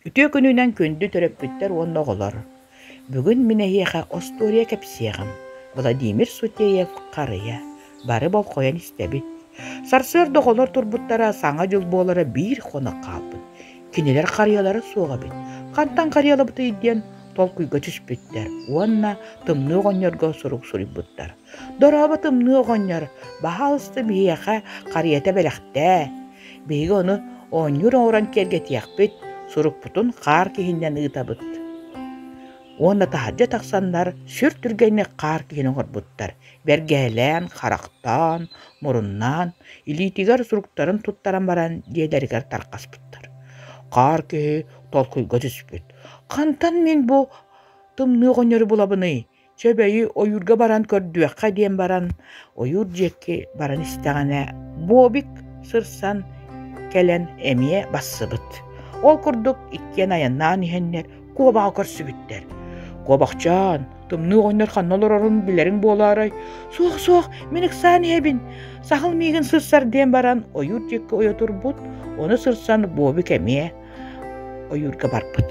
Үтүө күнүнэн күндү төрөппүттэр уонна оҕолор! Бүгүн мин эһиэхэ остуоруйа кэпсиэҕим Владимир Сутеев-Харыйа бары болҕойон истэбит. Сарсыарда оҕолор турбуттара Саҥа дьыл буолара биир хонох хаалбыт. Кинилэр харыйалара суох эбит. Хантан харыйалабытый диэн толкуйга түспүттэр уонна тымныы оҕонньорго сурук суруйбуттар. Дорообо тымныы оҕонньор, баһаалыста биһиэхэ харыйата бэлэхтээ. Биһиги ону оонньуур оҥорон киэргэтиэхпит, сурукпутун хаар киһиннэн ыытабыт. Уонна таһырдьа тахсаннар сүр түргэнник хаар киһини оҥорбуттар. Бэргэһэлээн, харахтаан, муруннаан, илиитигэр суруктарын туттаран баран дьиэлэригэр тарҕаспыттар. Хаар киһи толкуйга түспүт. «Хантан мин бу тымныы оҕонньору булабыный?» Чэ бэйи ойуурга баран көрдүөххэ диэн баран ойуур диэки баран истэҕинэ Бобик сырсан кэлэн эмиэ бассыбыт. Ол курдук иккиэн айаннаан иһэннэр куобаҕы көрсүбүттэр. Куобахчаан, тымныы оҕонньор ханна олорорун билэриҥ буолаарай? Суох, суох, мин ыксаан иһэбин. Сахал миигин сырсар диэн баран ойуур диэки ойо турбут, ону сырсан Бобик эмиэ ойуурга барбыт.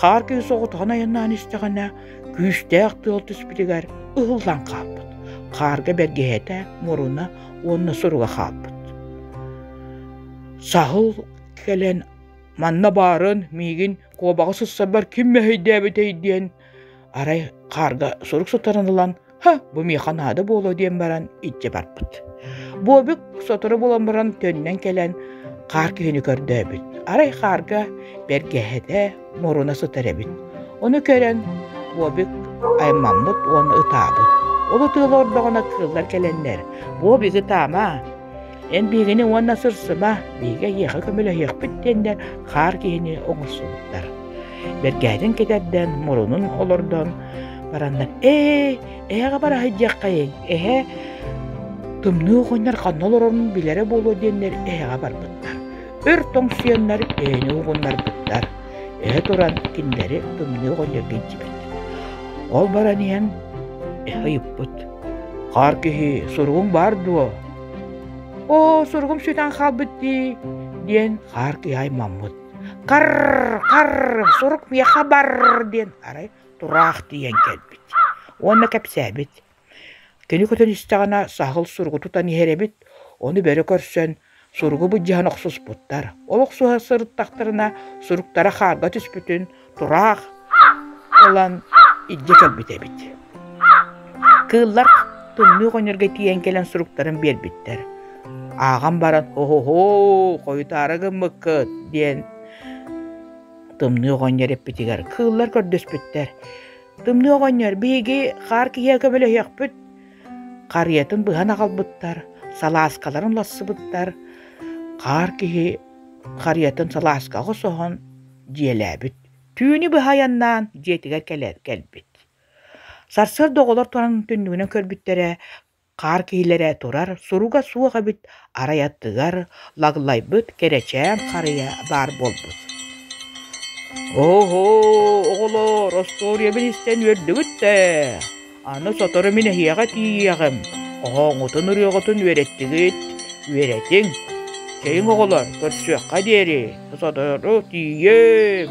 Хаар кыыс оҕотоһон айаннаан истэҕинэ, күүстээх тыал түспүтүгэр ыһыллан хаалбыт. Хаарга бэргэһэтэ, муруна уонна суруга хаалбыт. Саһыл кэлэн манна баарын миигин куобаҕы сыссарбар ким мэһэйдээбитэй диэн арай хаарга сурук сытарын ылан Һэ, бу миэхэ наада буолуо диэн баран илдьэ барбыт. Буобик сотору булан баран төннөн кэлэн хаар киһини көрдөөбүт. Арай хаарга бэргэһэтэ муруна сытар эбит. Ону көрөн Буобик аймаммыт уонна ытаабыт. Ол ытыылар ордоҕуна кыыллар кэлэннэр «Буобик, ытаама!» Эн биһигини уонна сырсыма, биһиги эйиэхэ көмөлөһүөхпүт диэннэр хаар киһини оҥорсубуттар. Бэргэһэтин кэтэрдэн, мурунун олордон бараннар «Ээ, эһэҕэ бараһыт диэххэйиҥ, эһэ тымныы оҕонньор ханна олорорун билэрэ буолуо» диэннэр эһэҕэ барбыттар. Өр тоҥсуйаннар эһэни угуннарбыттар. Эһэ туран кинилэри тымныы оҕонньорго илдьибэт. Ол баран иһэн эһэ ыйыппыт: Хаар киһи суругуҥ баар дуо? Оо, суругум сүтэн хаалбыт дии, диэн хаар киһи аймаммыт. Хар, хар, сурук миэхэ бар диэн арай тураах тиийэн кэлбит уонна кэпсээбит. Кини көтөн истэҕинэ саһыл суругу тутан иһэр эбит, ону бөрө көрсөн Суругу былдьаһан охсуспуттар. Ол охсуһа сырыттахтарына, суруктара хаарга түспүтүн тураах ылан илдьэ кэлбит эбит. Кыыллар тымныы оҕонньорго тиийэн кэлэн суруктарын биэрбиттэр. Ааҕан баран «Оһоһо, хойутаары гыммыккыт» диэн тымныы оҕонньор эппитигэр кыыллар көрдөспүттэр. «Тымныы оҕонньор, биһиги хаар киһиэхэ көмөлөһүөхпүт, Харыйатын быһан аҕалбыттар, салааскаларын лассыбыттар, хаар киһи харыйатын салааска оҕосоһон дьиэлээбит. Түүнү быһа айаннаан дьиэтигэр кэлэр кэлбит. Сарсыарда оҕолор туран түннүгүнэн көрбүттэрэ, хаар киһилэрэ турар, суруга суох эбит, арай аттыгар Лаглайбыт кэрэчээн харыйа баар буолбут «Оһоо, оҕолоор, остуоруйа мин истэн үөрдүгүт ээ, аны сотору мин эһиэхэ тиийиэҕим, хоһооҥҥутун ырыаҕытын үөрэттигит, үөрэтиҥ, чэйиҥ оҕолор көрсүөххэ диэри сотору тиийиэм»